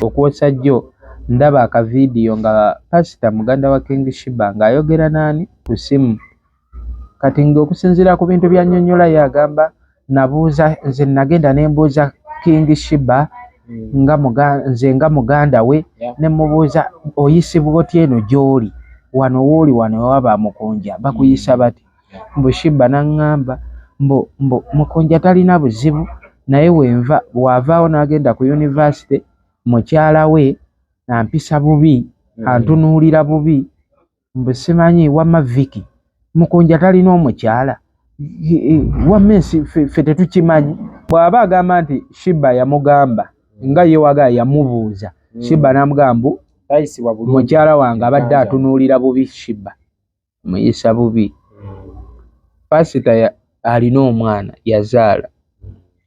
Okwosa jjo ndaba aka video nga pasita muganda wa king shiba ng'ayogera naani ku simu kati ng'okusinziira ku bintu byanyonyola ye agamba nabuuza nze nagenda ne mbuuza king shiba hmm. nga muga, nze nga muganda we yeah. ne mubuuza oyisibwa otya eno gy'oli wano wooli wano ewaba mukunja bakuyisa hmm. bati mbu Sheebah n'aŋŋamba mbu mbu Mukunja talina buzibu naye wenva bw'avaawo n'agenda ku yunivasite mukyala we ampisa bubi, hmm. antunuulira bubi mbu simanyi wamma Vicky Mukunja talina omukyala wamma ensi ffe tetukimanyi. Bw'aba agamba nti Sheebah yamugamba nga ye wagala yamubuuza hmm. Sheebah n'amugamba mbu mukyala wange abadde atunuulira bubi Sheebah. muyisa bubi pasita alina omwana yazaala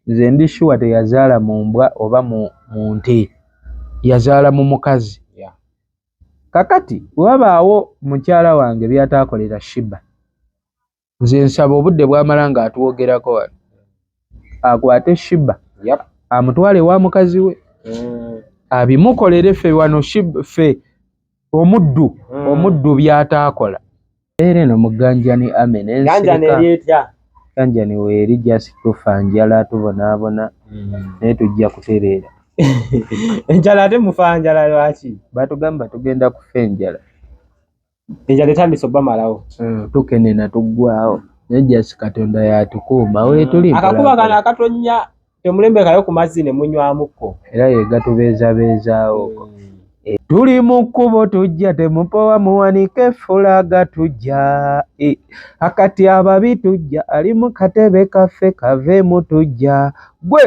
nze ndi shuwa teyazaala mu mbwa oba mu nte yazaala mu mukazi kakati wabaawo mukyala wange byataakolera shiba nze nsaba obudde bwamala nga atwogerako wano akwate shiba amutwale wa mukazi we mm. abimukolere fe wano fe omuddu hmm. omuddu byataakola era eno muganjani ame nensiganjani weeri just tufa njala tubonaabona hmm. naye tujja kutereera enjala ate mufa njala lwaki batugamba tugenda kufa enjala enjala etandise obamalawo hmm, tukenena tuggwawo naye just katonda yatukuuma wetuli akakuba kano akatonya Temulembekayo ku mazzi ne munywamuko. Era ye gatubeezabeezaawo. Eh. Tuli mu kkubo tujja temupowa muwanike fulaga tujja eh. akati ababi tujja ali mu katebe kaffe kaveemu tujja gwe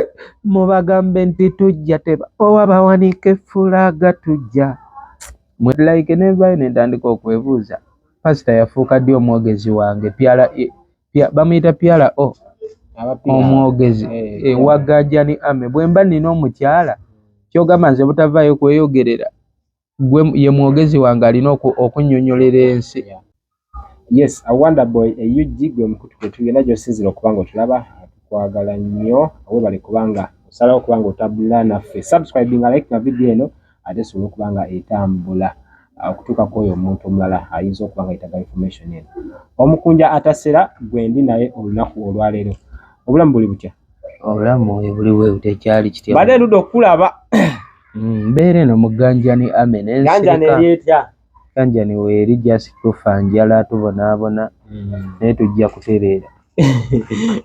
mubagambe nti tujja tebapowa bawanike fulaga tujja mwe like nevayo nentandika okwebuuza pasita yafuuka ddi omwogezi wange pyala eh. bamuyita pyala o omwogezi eh, eh, wagajani ame bwemba nina omukyala kyogamba nze butavaayo kweyogerera gwe ye mwogezi wange alina okunyonyolera ensi yes awonderboy eug gwe mukutu kwetugenda gyosinzira okuba nga otulaba tukwagala nnyo awebale kubanga osalawo kubanga otabula naffe subscribinga like na vidiyo eno ate esobole okuba nga etambula okutuuka ku oyo omuntu omulala ayinza okuba nga yetaga information eno omukunja atasera gwendi naye olunaku olwaleero obulamu buli butya obulamu buli bwe butya ekyali kitya bade luda okulaba mm, mbeera eno muganjani ame nensiaeryetya ganjani weeri just tufa njala tubonaabona mm. naye tujja kutereera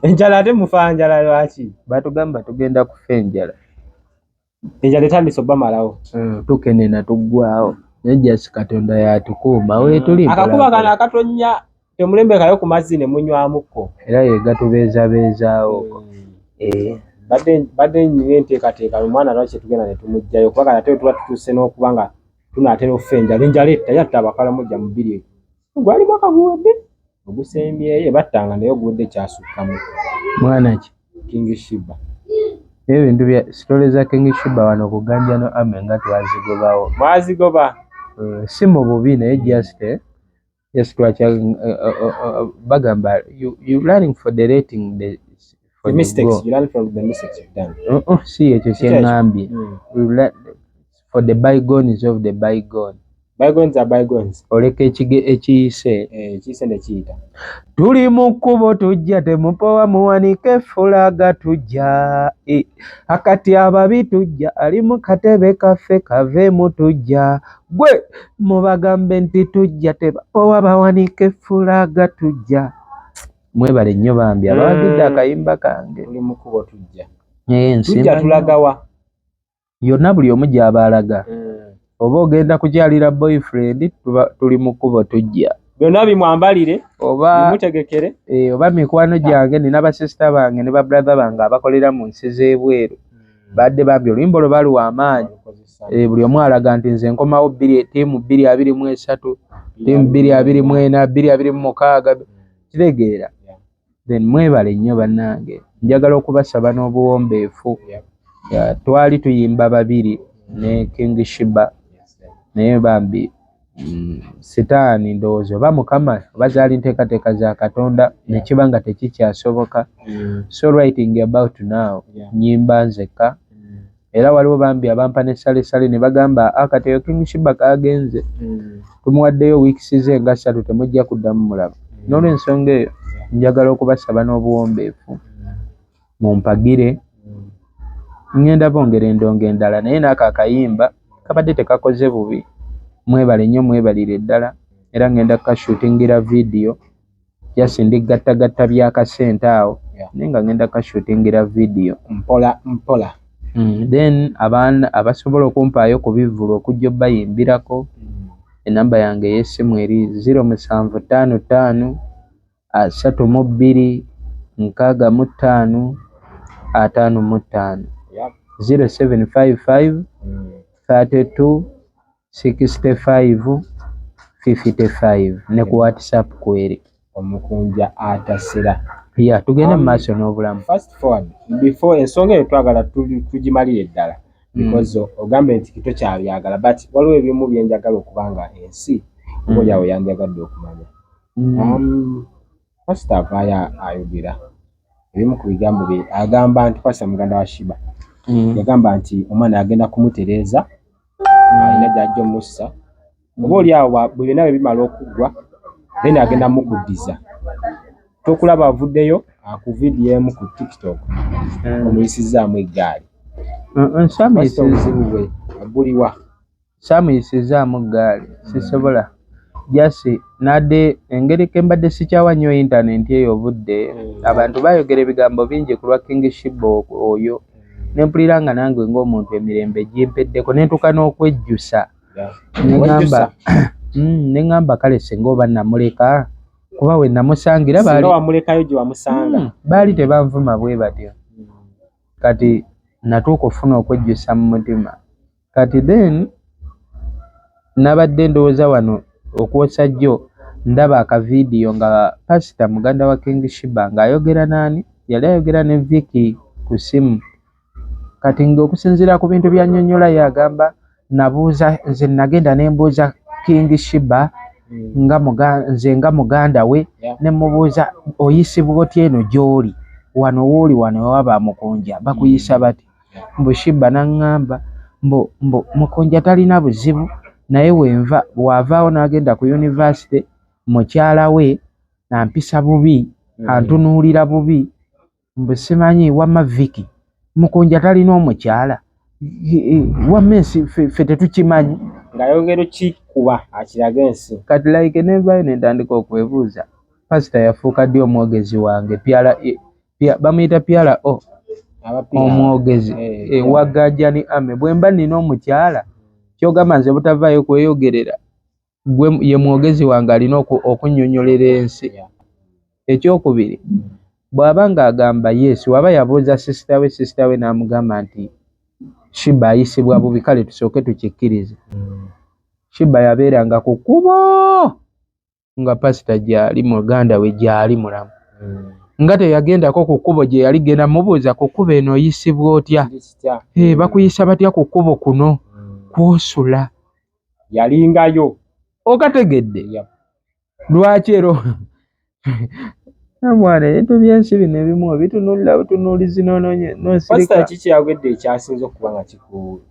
enjala ate mufa njala lwaki batugamba tugenda kufa enjala enjala etandise obamalawo hmm, tukenena tuggwawo naye jasi katonda yatukuuma hmm. wetuli akakuba kano akatonya temulembekayo ku mazzi ne munywamuko era yegatubeezabeezaawo hmm. eh. badde nyina enteekateeka omwana lwaki tugenda ne tumugjayo kuba kati ate tuba tutuuse n'okuba nga tunaatera okufa enjala enjala etta yatta abakalamu jja mu bbiri gwali mwaka guwedde ogusembyeyo battanga naye oguwedde kyasukkamu mwana ki king shiba naye ebintu bya sitole za king shiba wano kuganja no ame nga twazigobawo mwazigoba eh, si mu bubi naye just eh, yes twakya eh, bagamba you, you learning for the rating the the mistakes you learn from the mistakes you've done oh, oh si ekyo kye ngambye hmm. for the bygones of the bygone bygones are bygones oleka ekige ekiyise eh, ekiyise ne kiyita tuli mu kkubo tujja temupowa muwanike fulaga tujja e, akati ababi tujja ali mu katebe kaffe kave mu tujja gwe mubagambe nti tujja tebapowa bawanike fulaga tujja mwebale nnyo bambi abawagidde mm. akayimba kange tujja tulagawa yonna buli omu gyaba alaga mm. oba ogenda kukyalira boyfriend tuli mu kkubo tujja byonna bimwambalire obamutegekere eh, oba mikwano gyange nina basisita bange ne babrathe bange abakolera mu nsi z'ebweru Badde bambi oluyimba olwo bali wamaanyi e, buli omu alaga nti nze nkomawo tiimu bbiri abiri mu esatu tiimu bbiri abiri mu ena bbiri abiri mu mukaaga kitegeera then mwebale nnyo bannange njagala okubasaba n'obuwombeefu twali tuyimba babiri ne king shiba naye bambi Mm, sitaani ndowooza oba mukama oba zaali nteekateeka za katonda nekiba nga tekikyasoboka mm. so writing about now nyimba nzekka mm. era waliwo bambi abampa ne salesale ne bagamba akati ah, eyo king shibaka agenze tumuwaddeyo weeks ze nga ssatu temujja kuddamu mulaba n'olwensonga eyo njagala okubasaba n'obuwombeefu mumpagire ngenda bongera endongo endala naye naako akayimba kabadde tekakoze bubi mwebale nnyo mwebalire ddala era ngenda kukashutingira vidiyo just ndi gattagatta byakasente awo naye nga ngenda kukashutingira vidiyo mpola mpola mm, then abaana abasobola okumpaayo ku bivulu okujja obayimbirako mm. enamba yange eyesimu eri ziro musanvu ttaano ttaano asatu mu bbiri nkaaga mu ttaano ataano mu ttaano zero seven five five thirty two sixty five fifty five ne ku whatsapp kweri omukunja atasira ya tugende mu maaso n'obulamu first phone before ensonga eyo twagala tugimalire ddala mm. because ogambye nti kito kyabyagala but waliwo ebimu byenjagala okubanga ensi mm. olyawo yandyagadde okumanya Pasita avaayo ayogera ebimu ku bigambo bye agamba nti pasita muganda wa Shiba mm. yagamba nti omwana agenda kumutereeza mm. alina gy'ajja omussa oba oli awo bwe byonna bwe bimala okuggwa then agenda mukuddiza tokulaba avuddeyo akuvidiemu ku tiktok mm. omuyisizzaamu eggaali nsamuzibuwe aguliwa Saamuyisizzaamu ggaali, sisobola just n'adda e, engeri ke mbadde sikyawa nnyo intanenti eyo obudde, abantu baayogera ebigambo bingi ku lwa King Sheebah o- oyo, ne mpulira nga nange ng'omuntu emirembe gimpeddeko, ne ntuuka n'okwejjusa. Ne ŋŋamba, Mm, ne ŋŋamba kale singa oba namuleka, kuba we namusangira baali singa wamulekayo gye wamusanga Mm, baali tebanvuma bwe batyo. Kati natuuka okufuna okwejjusa mu mutima. Kati then nabadde ndowoza wano okwosa jjo ndaba aka video nga pastor muganda wa King Shiba nga ayogera nani yali ayogera ne Vicky ku simu kati nga okusinzira ku bintu bya nyonyola yagamba nabuuza nze nagenda ne mbuuza King Shiba mm. nga muga nze nga muganda we yeah. ne mubuuza oyisibwa otya eno gyoli wano woli wano waba mukunja bakuyisa mm. bati mbu Sheebah n'aŋŋamba mbu mbu Mukunja talina buzibu naye wenva bw'avaawo n'agenda ku yunivasite mukyala we ampisa bubi, antunuulira bubi mbu simanyi wamma Vicky Mukunja talina omukyala wamma ensi ffe tetukimanyi. Ng'ayongera okukikuba akirage ensi. Kati like n'evaayo ne ntandika okwebuuza, Pasita yafuuka ddi omwogezi wange? PRESS. bamuyita pyala o omwogezi eh, eh, wagajani ame bwemba nina omukyala kyogamba nze butavayo kweyogerera gwe ye mwogezi wange alina okunyonyolera ensi ekyokubiri bwaba nga agamba yes waba yabuuza sisita we sisita we namugamba nti shiba ayisibwa bubi kale tusooke tukikkirize mm. shiba yabeeranga ku kubo nga pasita gyali muganda we gyali mulamu hmm. nga teyagendako ku kkubo gye yali genda mubuuza ku kkubo eno oyisibwa otya eh, hmm. bakuyisa batya ku kkubo kuno hmm. kwosula yalingayo okategedde lwaki ero mwana ebintu byensi bino ebimu obitunulira butunuulizi nonsirika kiki kyagwedde ekyasinza okuba nga kikuu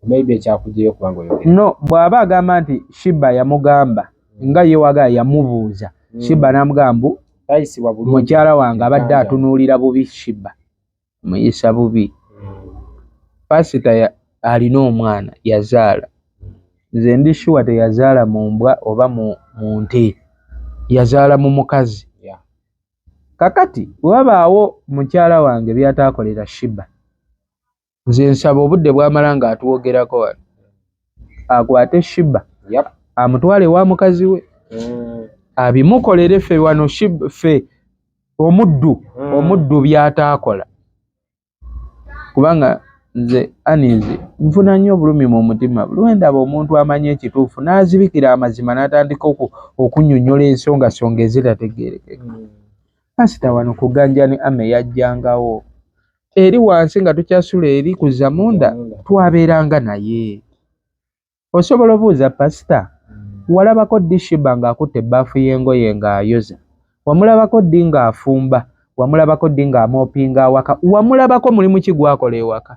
maybe ekyakujeyo kubanga oyogera no bwaba agamba nti shiba yamugamba nga ye waga yamubuuza mm. shiba namugamba tayisibwa bulungi mukyala wange abadde atunuulira bubi shiba muyisa bubi pasita ya alina omwana yazaala nze ndi shuwa teyazaala mu mbwa oba mu nte yazaala mu mukazi kakati wabaawo mukyala wange byataakolera shiba nze nsaba obudde bwamala nga atwogerako wano akwate shiba yep. amutwale wa mukazi we mm. abimukolere fe wano fe omuddu mm. omuddu byataakola kubanga nze anizi nfuna nnyo obulumi mu mutima lwendaba omuntu amanyi ekituufu n'azibikira amazima n'atandika okunyonyola ensongasonga ezitategeerekeka mm. pasita wano kuganjani ame yajjangawo eri wansi nga tukyasula eri ku zamunda twabeeranga naye osobola obuuza pasita walabako ddi shiba ng'akutte ebbaafu y'engoye ng'ayoza wamulabako ddi ng'afumba wamulabako ddi ng'amoopinga awaka wamulabako mulimu ki gwakola ewaka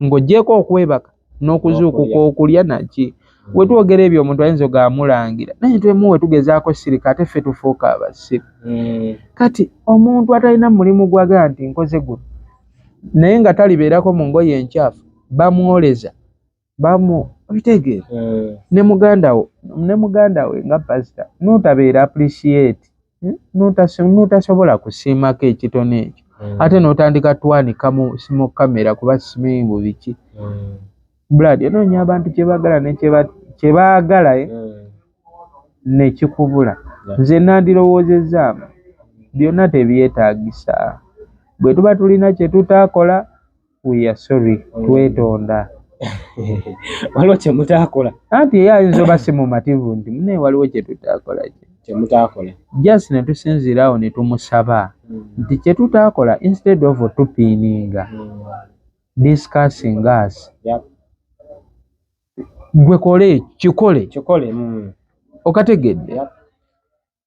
ng'ogyeko okwebaka n'okuzuukuka okulya naki wetwogera ebyo omuntu ayinza oga amulangira naye twemu wetugezaako sirika ate ffe tufuuka abasiru mm. kati omuntu atalina mulimu gwaga nti nkoze guno naye nga talibeerako mu ngoye enkyafu bamwoleza bamu obitegeera mm. ne mugandawo ne mugandawe nga pasita notabeera appreciate notasobola kusiimako ekitono ekyo mm. ate notandika twanika mu simu kamera kuba simanyi bu biki mm. brad onoonya abantu kyebagala nekyebaagala eh? mm. nekikubula nze nandirowoozezaamu byonna tebyetagisa bwetuba tulina kyetutakola We are sorry. Twetonda. Waliwo kye mutaakola. Anti ye ayinza oba si mumativu nti mune waliwo kye tutaakola kye. Kye mutaakola. Just ne tusinziira awo ne tumusaba hmm. nti kye tutaakola instead of tupiininga hmm. discussing us. Yep. Gwe kole kikole. Kikole. Mm. Okategedde. Yep.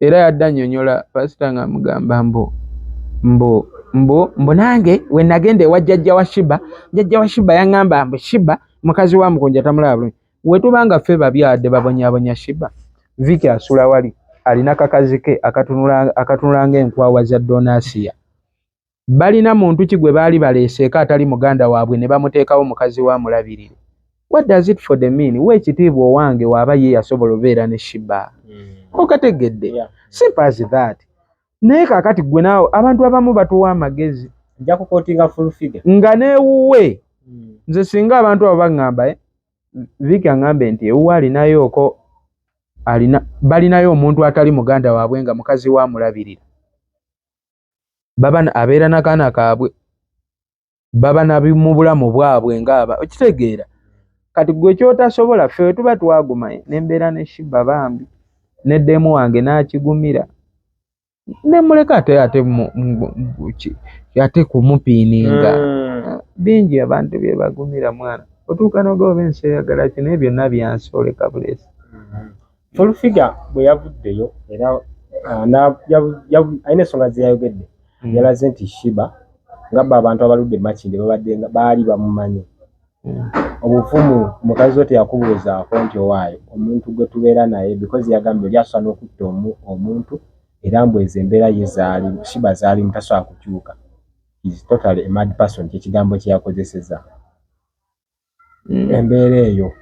era yadde annyonnyola pasita ng'amugamba mbu mbu mbu mbu nange we nagenda ewa jjajja wa shiba jjajja wa shiba yaŋŋamba mbu shiba mukazi wa mukunja tamulaba bulungi we tuba nga ffe babyadde babonyabonya shiba viki asula wali alina kakazi ke akatunula ng'enkwawa za donasiya balina muntu ki gwe baali baleeseeko atali muganda waabwe ne bamuteekawo mukazi we amulabirire what does it for the mean wa ekitiibwa owange waaba ye yasobola obeera ne shiba hmm. okategedde simple as that naye kakati gwe naawe abantu abamu batuwa amagezi nga newuwe hmm. nze singa abantu abo baŋŋamba eh, viki aŋŋambe nti ewuwe alinayooko alina balinayo omuntu atali muganda waabwe nga mukazi we amulabirira baba abeera nakaana kaabwe baba nabi mu bulamu bwabwe ngaaba okitegeera kati gwe kyotasobola ffe wetuba twaguma nembeera ne shiba bambi ne demu wange nakigumira nemuleka ate ate ate kumupiininga hmm. bingi abantu byebagumira mwana otuuka nogoba ensi eyagala kino ebyo byonna byansi oleka bulesi hmm. Full figure bwe yavuddeyo era alina ensonga ze yayogedde mm. yalaze nti shiba nga ba abantu abaludde makinde babadde nga baali bamumanyi mm. obuvumu mukazi wo teyakubuuzaako nti owaayo omuntu gwe tubeera naye because yagambye oli asobola n'okutta omuntu era mbu ezo embeera ye zaali shiba zaali mutasobola kukyuka is totally a mad person kyekigambo kyeyakozeseza mm. embeera eyo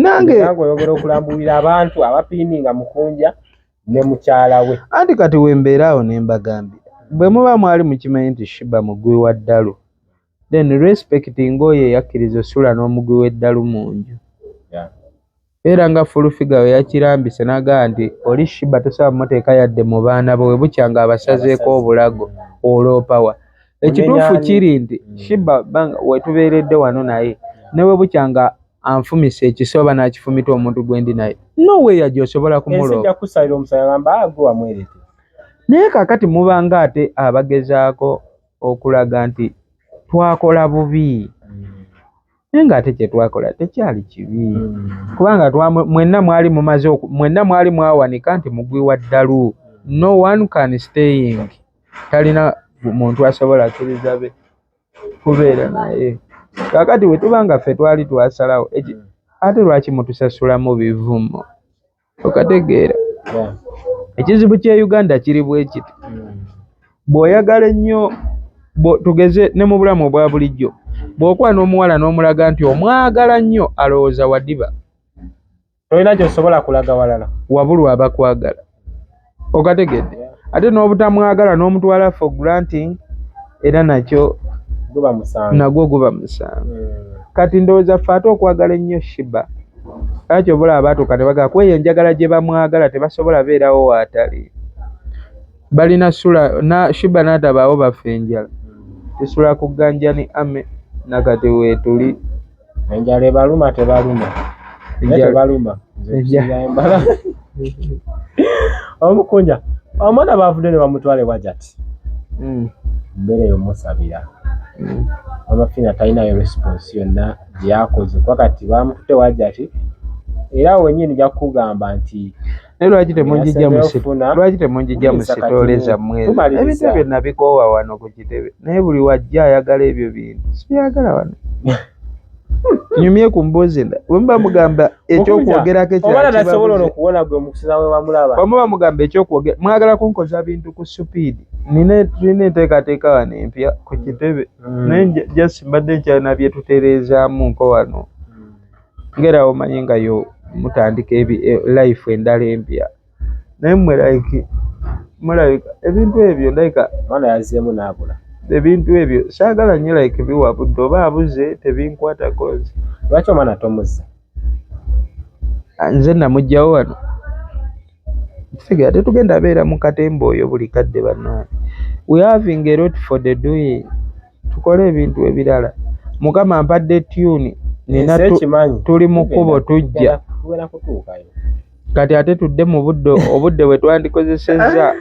nange nange oyogera okulambulira abantu abapiininga mukunja ne mukyala we anti kati wembeera awo ne mbagambye bwe muba mwali mukimanyi nti shiba mugwi wa ddalu then respect nga oyo eyakkiriza osula n'omugwi w'eddalu mu nju era nga fulufiga we yakirambise n'agamba nti oli shiba tosobola muteeka yadde mu baana bo we bukya ng'abasazeeko obulago oloopawa Ekituufu kiri nti mm. Shiba banga wetubeeredde wano naye ne bwe bukya nga anfumisa ekiso oba n'akifumita omuntu gwe ndi naye no way yaji osobola kumulooba ah, naye kakati mubanga ate abagezaako okulaga nti twakola bubi naye mm. ng'ate kye twakola tekyali kibi mm. kubanga mwenna mwali mumaze mwenna mwali mwawanika nti mugwi wa ddalu no one can staying talina muntu asobola kiriza be kubeera naye kakati wetuba nga ffe twali twasalawo eki mm. ate lwaki mutusasulamu bivumo okategeera ekizibu kya uganda kiri bwekiti mm. bw'oyagala ennyo tugeze ne mu bulamu obwa bulijjo bw'okuba n'omuwala n'omulaga nti omwagala nnyo alowooza wadiba tolina kyosobola kulaga walala wabulwa abakwagala okategedde ate n'obutamwagala n'omutwala for granting era nakyo nagwo guba musango hmm. kati ndowooza ffe ate okwagala ennyo shiba era kyoba olaba baatuuka ne bagala kuba eyo enjagala gye bamwagala tebasobola beerawo waatali balina sula na shiba n'atabaawo baffe enjala tusula ku ganjani ame nakati weetuli Enjala ebaluma tebaluma. Enjala ebaluma. Embala. Omukunja. Omwana bavude ne bamutwale wajati. Mm. Mbere yo musabira. Mm. Amafina taina yo response yonna gyakoze. Kwa kati bamutute wajati. Era wenyini jakugamba nti naye lwaki temunjija lwaki temunjija mu sitoole zammwe ebintu ebyo nabikoowa wano ku kitebe naye buli wajja ayagala ebyo bintu sibyagala wano nyumye ku mboozi enda wemuba mugamba ekyokwogerako ekyobamuba mugamba ekyokwogera mwagala kunkoza bintu ku supiidi nina tulina enteekateeka wano empya ku kitebe mm. naye just mbadde nkyalina byetutereezaamu nko wano ngera omanyi nga yo mutandika ebi e, life endala empya naye mwe like mulabika ebintu ebyo ndabika mwana yazeemu naabula ebintu ebyo saagala nyo like biwa budde oba abuze tebinkwatako nze lwaki omwana tomuzza ah, nze namugjawo wano tegera tetugenda beera mu katemba oyo buli kadde bannange we having a lot for the doing tukole ebintu ebilala. Mukama ampadde tune nina tuli mu kkubo tujja kati ate tudde mu budde obudde bwe twandikozesezza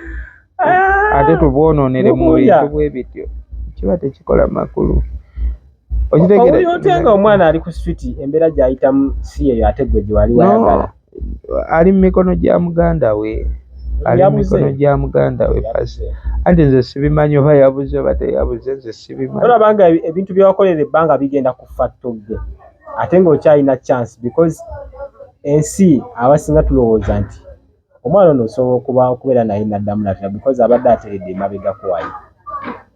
ate tubwonoonere mu bintu bwe bityo kiba tekikola makulu. Okitegera nga omwana ali ku street embera gyayitamu si yeyo ate gwe gyewali wayagala. ali mu mikono gya muganda we ali mu mikono gya muganda we pasi anti nze sibimanyi oba yabuze oba teyabuze nze sibimanyi olaba nga ebintu byewakolera ebbanga bigenda kufa togge ate ng'okyalina chance because ensi abasinga tulowooza nti omwana ono osobola okuba okubeera naye naddamu natera because abadde ateredde emabegako waye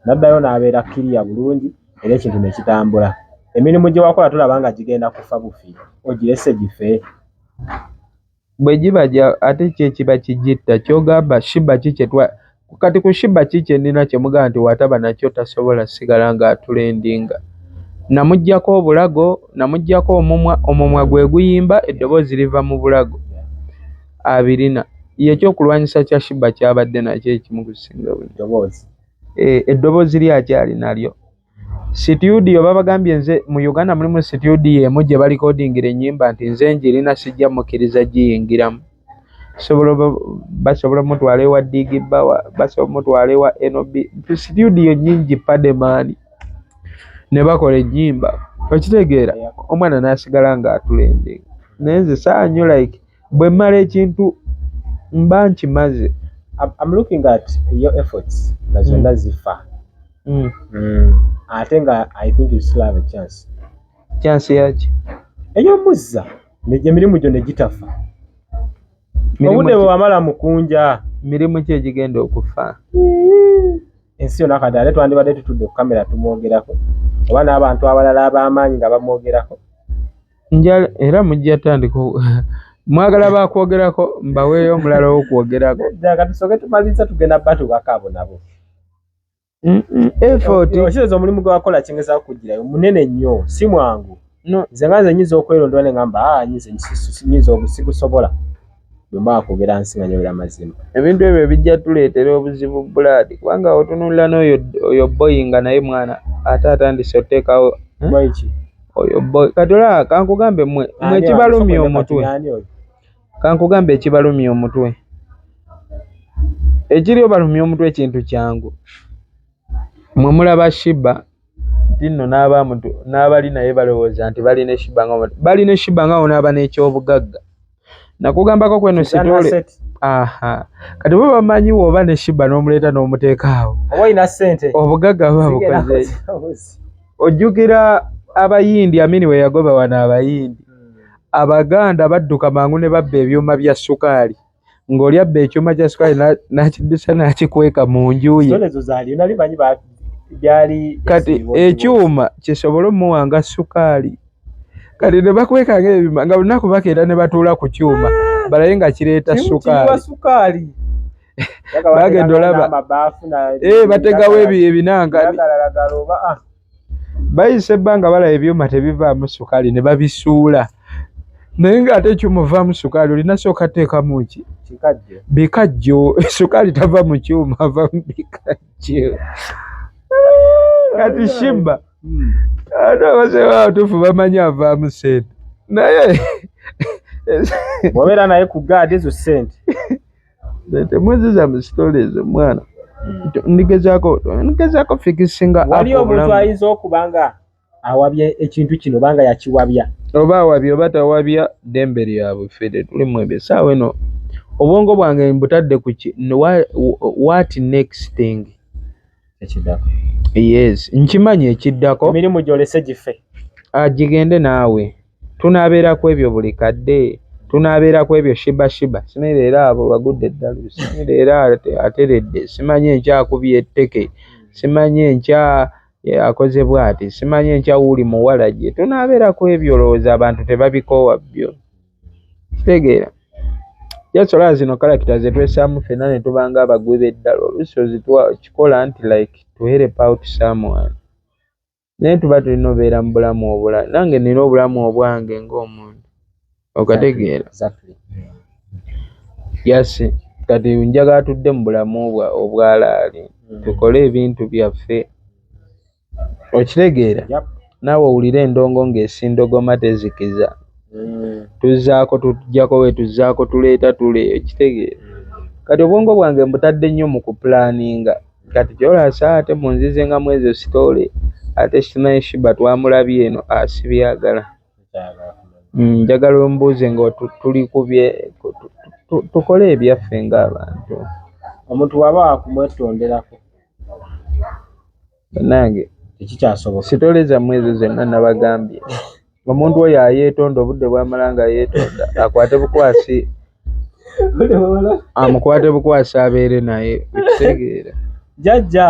naddayo n'abeera kiriya bulungi era ekintu ne kitambula. Emirimu gye wakola tolaba nga gigenda kufa bufi, ogirese gife? Bwe giba gya ate ki ekiba kigitta? Ky'ogamba Shiba ki kye twa kati ku Shiba ki kye nnina kye mugamba nti wataba nakyo tasobola sigala ng'atulendinga? Namuggyako obulago, namuggyako omumwa, omumwa gwe guyimba, eddoboozi liva mu bulago. Abirina. Ye ekyokulwanyisa kya Shiba ky'abadde nakyo ekimu ku singa. Ddoboozi. e, eddoboozi lye akyali nalyo situdiyo babagambye nze mu uganda mulimu situdiyo emu gye balikodingira ennyimba nti nze njirina sijja mukkiriza giyingiramu basobola omutwala ewa digi bawa basobola omutwala ewa nob situdiyo nyingi pademaani ne bakola ennyimba okitegeera omwana n'asigala ng'atulende naye nze saanyu like Bwe mmala ekintu mba nkimaze. I'm, I'm looking at your efforts nga zonna mm. zifa mm. mm. ate nga I think you still have a chance. Chance yaki? Ey'omuzza emirimu gyo ne gitafa. Obudde bwe wamala mukunja. Mirimu ki egigenda okufa? Ensi yonna kati ate twandibadde tutudde ku kamera tumwogerako oba n'abantu abalala ab'amaanyi nga bamwogerako. njala era mujja tandika mwagala bakwogerako mbaweeyo omulala wokwogerako tusoke tumaliza tugenda batubakabo nabo effortokireza eh, omulimu gwewakola kingeza kukugirayo munene nnyo si mwangu nze nga nze nyinza okwerondwa ne ngamba ah, nyinza obusibusobola bwe mba wakwogera nsi nga njogera mazima. Ebintu ebyo bijja tuleetera obuzibu blood kubanga otunulira n'oyo oyo boy nga naye mwana ate atandise oteekawo boy ki oyo boy kati olaba kankugambe mwe mwe ekibalumya omutwe kankugambe ekibalumya omutwe ekiri obalumya omutwe ekintu kyangu mwe mulaba shiba nti nno n'abamutu n'abali naye balowooza nti bali ne shiba nga bali ne shiba nga onaaba n'ekyobugagga nakugambako kweno sitole aha kati bo bamanyi woba ne shiba n'omuleeta n'omuteekaawo oba olina ssente obugagga buba bukoze ojjukira abayindi amini we yagoba wano abayindi hmm. abaganda badduka mangu ne babba ebyuma bya sukaali ng'oli abba ekyuma kya sukaali n'akiddusa n'akikweka mu nju ye kati ekyuma kisobole omuwa nga sukaali kati ne bakweka ng'ebima nga lunaku bakeera ne batuula ku kyuma balaye nga kireeta sukaali bagenda olaba eh, bategawo ebinanga ah. bayisa ebbanga balaba ebyuma tebivaamu sukaali ne babisuula naye ng'ate ekyuma ovaamu sukaali olina sooka teekamu ki bikajjo sukaali tava mu kyuma ava mu bikajjo kati shimba hmm. ate abazee babatuufu bamanyi avaamu sente naye wabeera naye ku gaadi ezo sente Temwezeza mu story ezo mwana. Ndigezako, ndigezako fixinga up. Wali omuntu ayinza okuba nga awabye ekintu kino banga yakiwabya. Oba awabye oba tawabya dembe lyabwe fede tuli mwebye sawa eno. Obwongo bwange mbutadde ku ki what next thing. ekiddako yes nkimanyi ekiddako emirimu gyolese gife agigende ah, naawe tunaabeera ku ebyo buli kadde tunaabeera ku ebyo shiba shiba simanyi leero abo bagudde eddalu simanyi leero ateredde simanyi enkyakubya etteke simanyi enkya akoze bwati simanyi enkya wuuli muwala gye tunaabeera ku ebyo olowooza abantu tebabikoowa byo kitegeera just olaba zino character zetwesaamu fena netubanga abagwi beddala oluusi ozikikola nti like to help out someone naye tuba tulina obeera mu bulamu obula nange nina obulamu obwange ngaomuntu okategeera yasi kati njaga atudde mu bulamu obwalaali mm. tukole ebintu byaffe okitegeera naawe owulire endongo ng'esindogoma tezikiza mm. tuzaako tujjako we tuzaako tuleeta tule okitegeera mm. kati obwongo bwange mbutadde nnyo mu kupulaninga kati kyolasa ate munzize nga mwezo sitoole ate simanyi shiba twamulabye eno asibyagala mm, njagala ombuuze nga tuli kubye tukole ebyaffe ng'abantu omuntu waba wakumwetonderako Bannange tekikyasoboka. Sitole zammwe ezo zonna nabagambye. Omuntu oyo ayeetonda obudde bwamala nga yeetonda akwate bukwasi amukwate bukwasi abeere naye ekitegeera. Jajja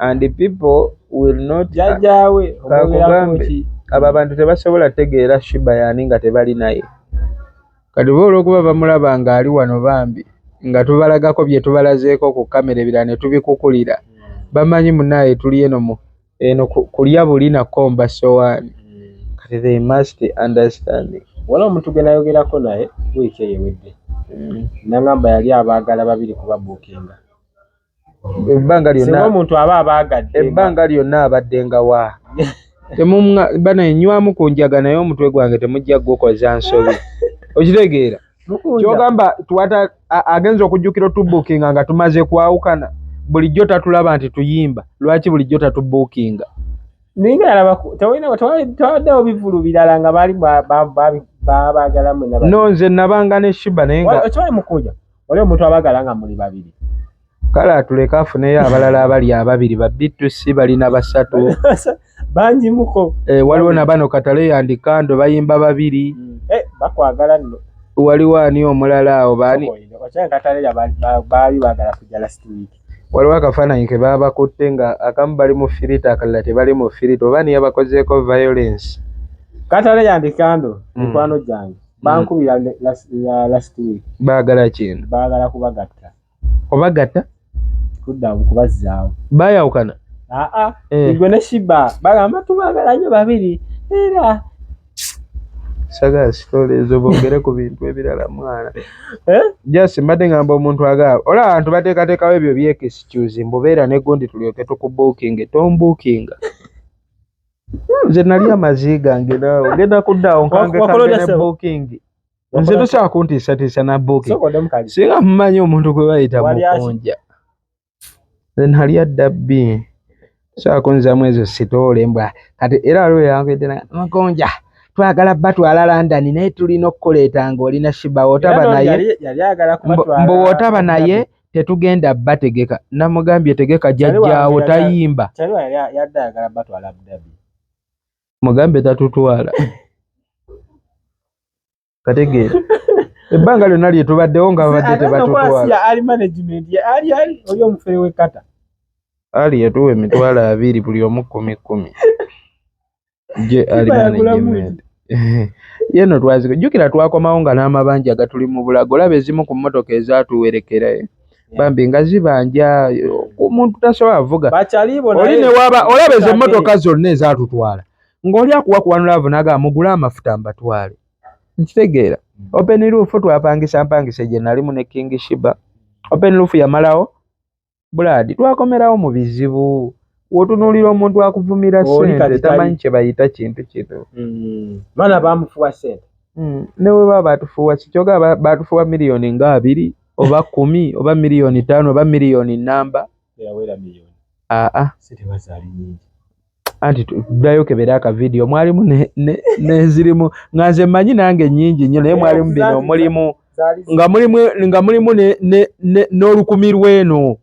and people will not jajjaawe kakugambye abo abantu tebasobola tegeera Shiba yaani nga tebali naye. Kati bo olwokuba bamulaba nga ali wano bambi nga tubalagako byetubalazeeko ku camera ebirala netubikukulira bamanyi munaye tuli eno mu eno kulya buli na komba sowaani kati they must understand. Waliwo omuntu gwenayogerako naye week eyo ewedde mm. nangamba yali abaagala babiri kubabuukinga ebbanga lyonna omuntu aba abaagadde ebbanga lyonna abadde nga wa temumwa bana enywamu ku njaga naye omutwe gwange temujja gukoza nsobi okitegeera kyogamba twata agenza okujjukira otubukinga nga tumaze kwawukana bulijjo tatulaba nti tuyimba lwaki bulijjo tatubukinga ninga alaba tewalina twawaddewo bivulu birala nga baali babagala mwe no nze nabanga ne shiba naye nga okimanyi mukuja oli omuntu abagala nga muli babiri kale atuleke afuneyo abalala abali ababiri babbi tusi balina basatu bangi muko eh, waliwo nabano katale yandikando bayimba babiri mm. eh, bakwagala nno waliwo ani omulala awo bani waliwo akafaananyi ke baabakutte nga akamu bali mu firita akalala tebali mu firita oba niye bakozeeko violence katale yandikando mm. mikwano gyange bankubira last week bagala kino bagala kubagatta obagatta kudda kubazzaawo bayawukana aa eh. igwe ne shiba bagamba tubagala nyo babiri era sagala sitole ezo bogere ku bintu ebirala mwana eh? just mbadde ngamba omuntu agaba ola abantu bateekateekawo ebyo byekisicuzi mbubeera negundi tulyoke tukubuukinge tombuukinga nze nali amazi gange nawe ogenda kuddaawo nkange kange ne bookingi nze tosobola kuntiisatiisa na buki singa mumanyi omuntu gwe bayita mukunja then hali adda bbi sobola kunzamu ezo sitoole mbwa kati era waliwo yambedde mukunja twagala batwala london naye tulina okukuleeta ng'olina shiba wotaba naye mbu wotaba naye tetugenda bategeka namugambye tegeka jajjaawo tayimba mugambe tatutwala kategeera ebbanga lyonna lyetubaddewo nga babadde tebatutwalaali yatuwa emitwalo abiri buli omu kumi kumi gye ali management ye no twaziko jukira twakomawo nga n'amabanja gatuli mu bulago olaba ezimu ku mmotoka ezatuwerekera eh? bambi nga zibanja omuntu tasobola vuga oli newaba olaba ezo emmotoka zonna ezatutwala ng'oli akuwa kuwanula avo naga mugule amafuta mbatwale nkitegeera mm. open roof twapangisa mpangisa gye nalimu ne king shiba open roof yamalawo Blood twakomerawo mu bizibu wotunulira omuntu akuvumira sente tamanyi kyebayita kintu kino mm. mana bamufuwa sente mm. neweba batufuwa kikyoga batufuwa miliyoni nga abiri oba kumi oba miliyoni tano oba miliyoni namba aa anti ddayo kebere aka vidiyo mwalimu nenzirimu nga nze mmanyi nange nyingi nnyo naye mwalimu bino mulimu nga mulimu n'olukumi lw'eno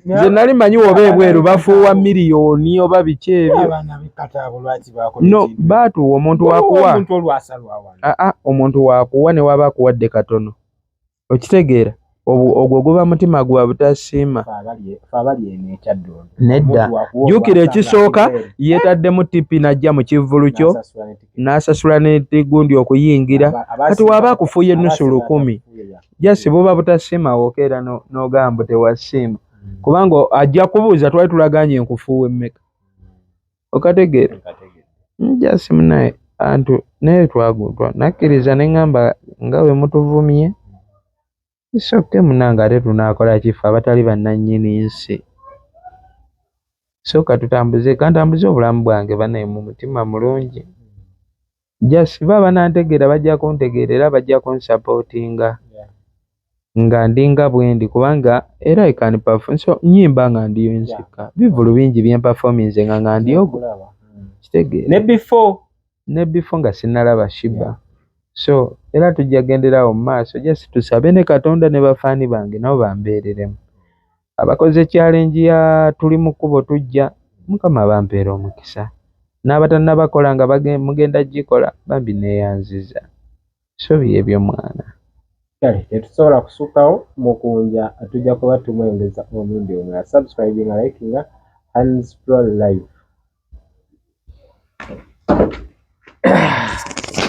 nze nali manyi oba ebweru bafuuwa miliyoni oba biki ebyo no baatuwa omuntu wakuwa aa omuntu wakuwa newaba akuwadde katono okitegeera ogwo guba mutima gwa butasiima nedda jukira ekisooka yetaddemu tipi najja mu kivvulu kyo n'asasula netigundi okuyingira kati waba akufuuye ennusu lukumi jasi buba butasiima woka era n'ogambo tewasiima kubanga ajja kubuuza twali tulaganye enkufuuwe mmeka Okategeera? Just munaye antu naye twagutwa nakkiriza ne ŋŋamba nga bwe mutuvumye isoke munange ate tunaakola kifo abatali bannannyini nsi so katutambuze kantambuze obulamu bwange banaye mu mutima mulungi just bo abanantegeera bajja kuntegeera era bajja kunsapootinga nga ndi nga bwendi kubanga era I can perform so nyimba nga ndiyo nzekka bivulu bingi bye mperforminze nga nga ndiyo kitegeera ne before ne before nga sinnalaba Shiba so era tujja kugenderawo mu maaso just tusabe ne Katonda ne bafaani bange nabo bambeereremu abakoze challenge ya tuli mu kkubo tujja mukama abampeere omukisa n'abatannabakola nga mugenda gikola bambi neeyanziza so byebyo mwana kale tetusobola kusukkawo mukunja tujja kuba tumwengeza omulundi omulala subscribinga likinga hands pro life